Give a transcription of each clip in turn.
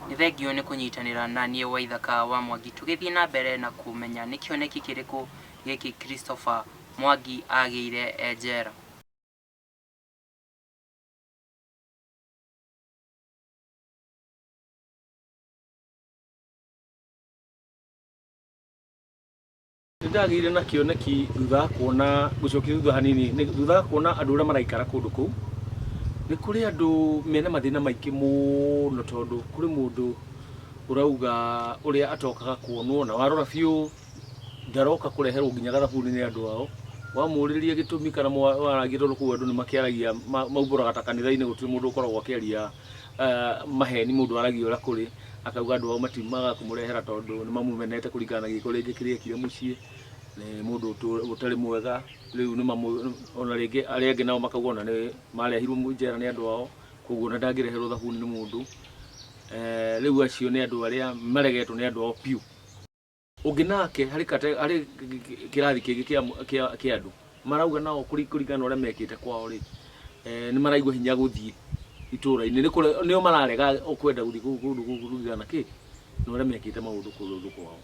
Nĩ thengiũ nĩ kũnyitanĩra na niĩ Waithaka wa Mwangi tũgĩthiĩ na mbere na kũmenya nĩ kĩoneki kĩrĩkũ gĩkĩ Christopher Mwangi agĩire e njera. Nĩ ndagĩire na kĩoneki thutha wa kuona gũcokia thutha hanini nĩ- thutha wa kuona andũ arĩa maraikara kũndũ kũu nĩ kũrĩ andũ mena mathĩna maingĩ mũno tondũ kũrĩ mũndũ ũrauga ũrĩa atokaga kuonwo na warora biũ ndaroka kũreherwo nginya gathabuni nĩ andũ ao wamũrĩria gĩtũmi kana mwa- waragia tondũ kũu andũ nĩ makĩaragia ma- maumbũraga ta kanitha-inĩ gũtirĩ mũndũ ũkoragwo akĩaria eh, maheni mũndũ aragia ũrĩa kũrĩ Akauga andũ ao matiumaga kũmũrehera tondũ nĩmamũmenete kũringana na gĩko rĩngĩ kĩrĩa ekire mũciĩ, nĩ mũndũ ũtũ- ũtarĩ mwega, rĩu nĩmamũ- ona rĩngĩ arĩa angĩ nao makauga ona nĩ marehirwo mũ- njera nĩ andũ ao, koguo ona ndangĩreherwo thabuni nĩ mũndũ. Eh, Rĩu acio nĩ andũ arĩa maregetwo nĩ andũ ao biũ. ũngĩ nake harĩ kate- harĩ kĩ- kĩ- kĩ- kĩrathi kĩngĩ kĩa mũ- kĩa- kĩa andũ marauga nao kũri- kũringana na ũrĩa mekĩte kwao rĩ eh, nĩ maraigua hinya gũthiĩ itũra-inĩ Nĩ kũre- nĩo mararega kwenda gũthiĩ kũu kũndũ kũu kũringana na kĩ na ũrĩa mekĩte maũndũ kũndũ kwao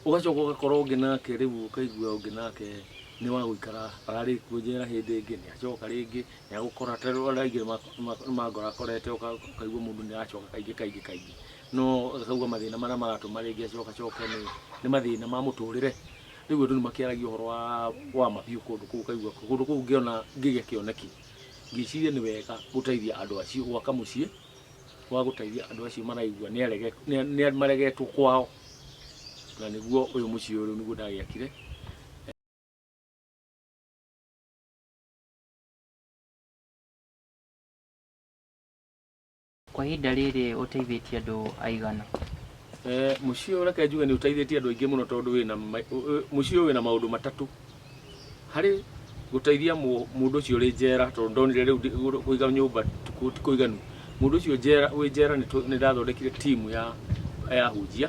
ũgacoka ũgakora ũngĩ nake rĩu ũkaigua ũngĩ nake nĩ wa gũikara ararĩ kuo njera hĩndĩ ĩngĩ nĩ acoka rĩngĩ nĩ agũkora ta rĩu arĩa aingĩ nĩ ma- ma- nĩ mangora akorete ũka- ũkaigua mũndũ nĩ aracoka kaingĩ kaingĩ kaingĩ No ũkaigua mathĩna marĩa maratũma rĩngĩ acokacoke nĩ, nĩ mathĩna ma mũtũrĩre. Rĩu andũ nĩ makĩaragia ũhoro wa wa ma biũ kũndũ kũu ũkaigua kũndũ kũu ngĩona ngĩgĩa kĩoneki ngĩciria nĩ wega gũteithia andũ acio gwaka mũciĩ wa gũteithia andũ acio maraigua nĩ arege, nĩ nĩ maregetwo kwao. Na nĩguo ũyũ mũciĩ ũyũ rĩu nĩguo ndagĩakire. Kwa ihinda rĩrĩ ũteithĩtie andũ aigana? Mũciĩ ũyũ reke njuge nĩ ũteithĩtie andũ aingĩ mũno tondũ wĩna, mũciĩ ũyũ wĩna maũndũ matatũ. Harĩ gũteithia mũndũ ũcio ũrĩ njera tondũ ndonire rĩu kũiga nyũmba ti kũiganu, mũndũ ũcio wĩ njera nĩ ndathondekire team ya ahunjia.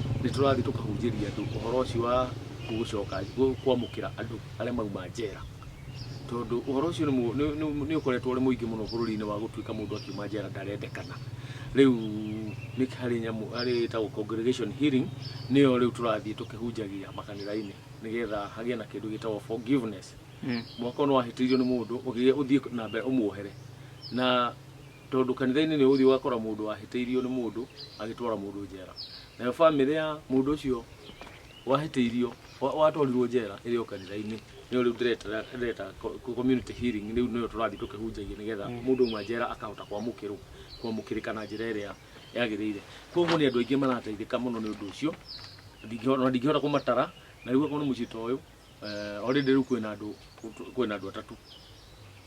nĩ tũrathiĩ tũkahunjĩria andũ ũhoro ũcio wa gũcoka kwamũkĩra andũ arĩa mauma njera tondũ ũhoro ũcio nĩ mũ- nĩ- nĩ- nĩ ũkoretwo ũrĩ mũingĩ mũno bũrũri-inĩ wa gũtuĩka mũndũ akiuma njera ndarendekana rĩu nĩ harĩ nyamũ harĩ ĩtagwo congregation hearing nĩyo rĩu tũrathiĩ tũkĩhunjagia makanitha-inĩ nĩgetha hagĩe na kĩndũ gĩtagwo forgiveness mwaka ũyũ nĩ wahĩtĩirio nĩ mũndũ ũgĩe ũthiĩ na mbere ũmuohere na Tondũ kanitha-inĩ nĩ ũgũthiĩ ũgakora mũndũ wahĩtĩirio nĩ mũndũ agĩtwara mũndũ njera, nayo bamĩrĩ ya mũndũ ũcio wahĩtĩirio wa- watwarirwo njera ĩrĩ o kanitha-inĩ, nĩyo rĩu ndĩreta- ndĩreta co- co- community healing rĩu nĩyo tũrathiĩ tũkĩhunjagia nĩgetha mũndũ auma njera akahota kwamũkĩrwo kwamũkĩrĩka na njĩra ĩrĩa yagĩrĩire. Koguo nĩ andũ aingĩ marateithĩka mũno nĩ ũndũ ũcio, ndingĩhota ona ndingĩhota kũmatara, na rĩu okorwo nĩ mũciĩ ta ũyũ, Eh, already rĩu kwĩna andũ kwĩna andũ atatũ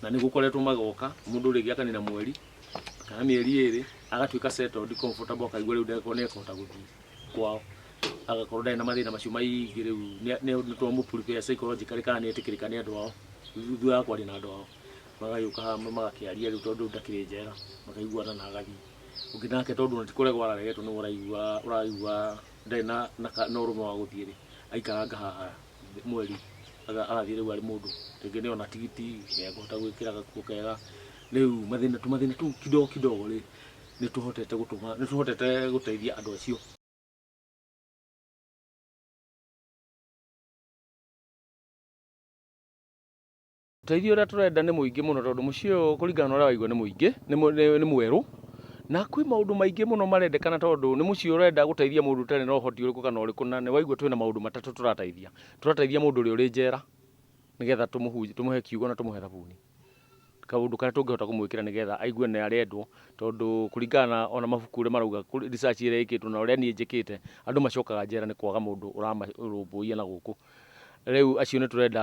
na nĩ gũkoretwo magoka mũndũ rĩngĩ akanina mweri kana mĩeri ĩrĩ agatuĩka settled comfortable akaigua rĩu ndeko nĩ ekũhota gũthiĩ kwao agakorwo ndarĩ na mathĩna macio maingĩ rĩu nĩ- nĩ nĩ twamũ prepare psychologically kana nĩ etĩkĩrĩka nĩ andũ ao thutha wa kwaria na andũ ao magagĩũka hamwe magakĩaria rĩu tondũ ndakĩrĩ njera makaiguana na agathiĩ ũngĩ nake tondũ ona ti kũregwo araregetwo nĩ ũraigua ũraigua ndarĩ na na ka- na ũrũme wa gũthiĩ rĩ aikaranga haha mweri aga- agathiĩ rĩu arĩ mũndũ rĩngĩ nĩ ona tigiti nĩ ekũhota gwĩkĩra gakuo kega rĩu mathĩna tũ mathĩna tũu kidogo kidogo rĩ nĩ tũhotete gũtũma nĩ tũhotete gũteithia andũ acio Ũteithio ũrĩa tũrenda nĩ mũingĩ mũno tondũ mũciĩ ũyũ kũringana na ũrĩa waigua nĩ mũingĩ nĩ mũ- nĩ- nĩ mwerũ na kwĩ maũndũ maingĩ mũno marendekana tondũ nĩ mũciĩ ũrenda gũteithia mũndũ ũtarĩ na ũhoti ũrĩkũ kana ũrĩkũ na nĩ waigua twĩna maũndũ matatũ tũrateithia tũrateithia mũndũ ũrĩa ũrĩ njera nĩgetha tũmũhunjie tũmũhe kiugo na tũmũhe thabuni kaũndũ karĩa tũngĩhota kũmwĩkĩra nĩgetha aigue nĩ arendwo tondũ kũringana na ona mabuku ũrĩa marauga kũrĩ- research ĩrĩa ĩkĩtwo na ũrĩa niĩ njĩkĩte andũ macokaga njera nĩ kwaga mũndũ ũramarũmbũiya na gũkũ rĩu acio nĩ tũrenda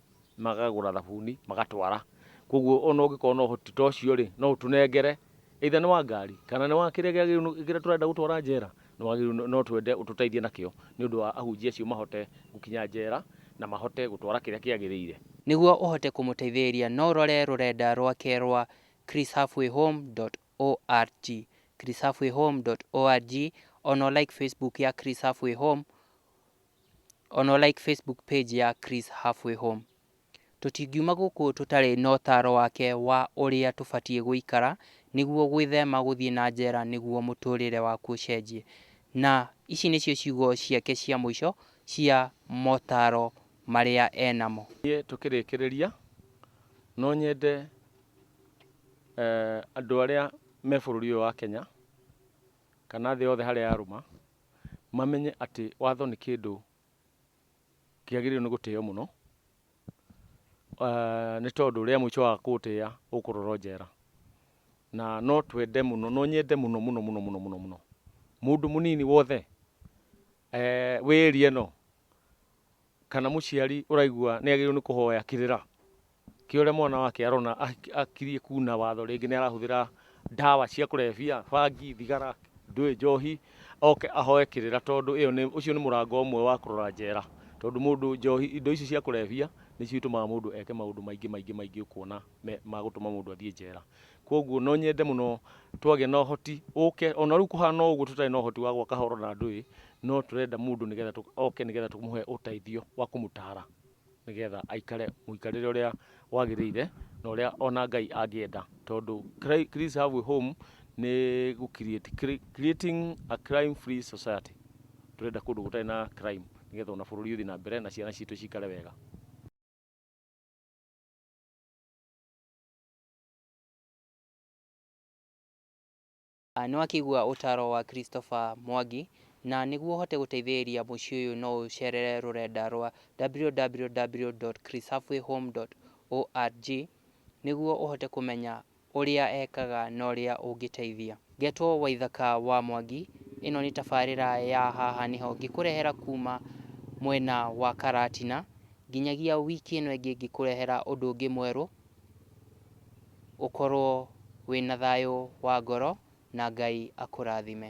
magagũra thabuni magatwara. Koguo ona ũngĩkorwo na ũhoti ta ũcio rĩ, no ũtũnengere either nĩ wa ngari kana nĩ wa kĩrĩa kĩagĩrĩirwo kĩrĩa tũrenda gũtwara njera, nĩ wagĩrĩirwo no twende ũtũteithie nakĩo nĩ ũndũ wa ahunjia acio mahote gũkinya njera na mahote gũtwara kĩrĩa kĩagĩrĩire. Nĩguo ũhote kũmũteithĩrĩria no ũrore rũrenda rwake rwa chrishalfwayhome.org, chrishalfwayhome.org, ona ũ like Facebook ya Chris Halfway Home O na ũ like Facebook page ya Chris Halfway Home. Tũtingiuma gũkũ tũtarĩ na ũtaaro wake wa ũrĩa tũbatiĩ gũikara nĩguo gwĩthema gũthiĩ na njera nĩguo mũtũũrĩre waku ũcenjie. Na ici nĩcio ciugo ciake cia mũico cia motaaro marĩa e namo. Niĩ tũkĩrĩkĩrĩria, no nyende andũ arĩa me bũrũri ũyũ wa Kenya, kana thĩ yothe harĩa yarũma, mamenye atĩ watho nĩ kĩndũ kĩagĩrĩirwo nĩ gũtĩo mũno, eh, nĩ tondũ rĩa mũico wa kũũtĩa ũkũrorwo njera. Na no twende mũno, no nyende mũno mũno mũno mũno mũno mũno mũndũ mũnini wothe eh, wĩ area ĩno kana mũciari ũraigua nĩ agĩrĩirwo nĩ kũhoya kĩrĩra kĩa ũrĩa mwana wake arona akirie kuna watho rĩngĩ nĩ arahũthĩra ndawa cia kũrebia, bangi, thigara, ndũĩ, njohi, oke ahoe kĩrĩra tondũ ĩyo nĩ, ũcio nĩ mũrango ũmwe wa kũrora njera. Tondũ mũndũ njohi, indo ici cia kũrebia nĩcio itũmaga mũndũ eke maũndũ maingĩ maingĩ maingĩ ũkuona me, magũtũma mũndũ athiĩ njera. Kwoguo no nyende mũno twagĩa na ũhoti ũke, o na rĩu kũhana o ũguo tũtarĩ na ũhoti wa gwaka horo na ndũĩ, no tũrenda mũndũ nĩgetha oke nĩgetha tũmũhe ũteithio wa kũmũtara nĩgetha aikare mũikarĩre ũrĩa wagĩrĩire na ũrĩa o na Ngai angĩenda. Tondũ Chris Have a Home nĩ gũ create, creating a crime free society. Tũrenda kũndũ gũtarĩ na crime nĩgetha o na bũrũri ũthiĩ na mbere na ciana citũ cikare wega. Nĩ wakĩigua ũtaro wa Christopher Mwangi na nĩguo ũhote gũteithĩrĩria mũciĩ ũyũ no ũcerere rũrenda rwa www.chrishalfwayhome.org nĩguo ũhote kũmenya ũrĩa ekaga na ũrĩa ũngĩteithia. Ngetwo Waithaka wa Mwangi, ĩno nĩ tabarĩra ya haha nĩho ngĩkũrehera kuma mwena wa Karatina, nginyagia wiki ĩno ĩngĩ ngĩkũrehera ũndũ ũngĩ mwerũ Ũkorwo wĩna thayũ wa ngoro na Ngai akũrathime.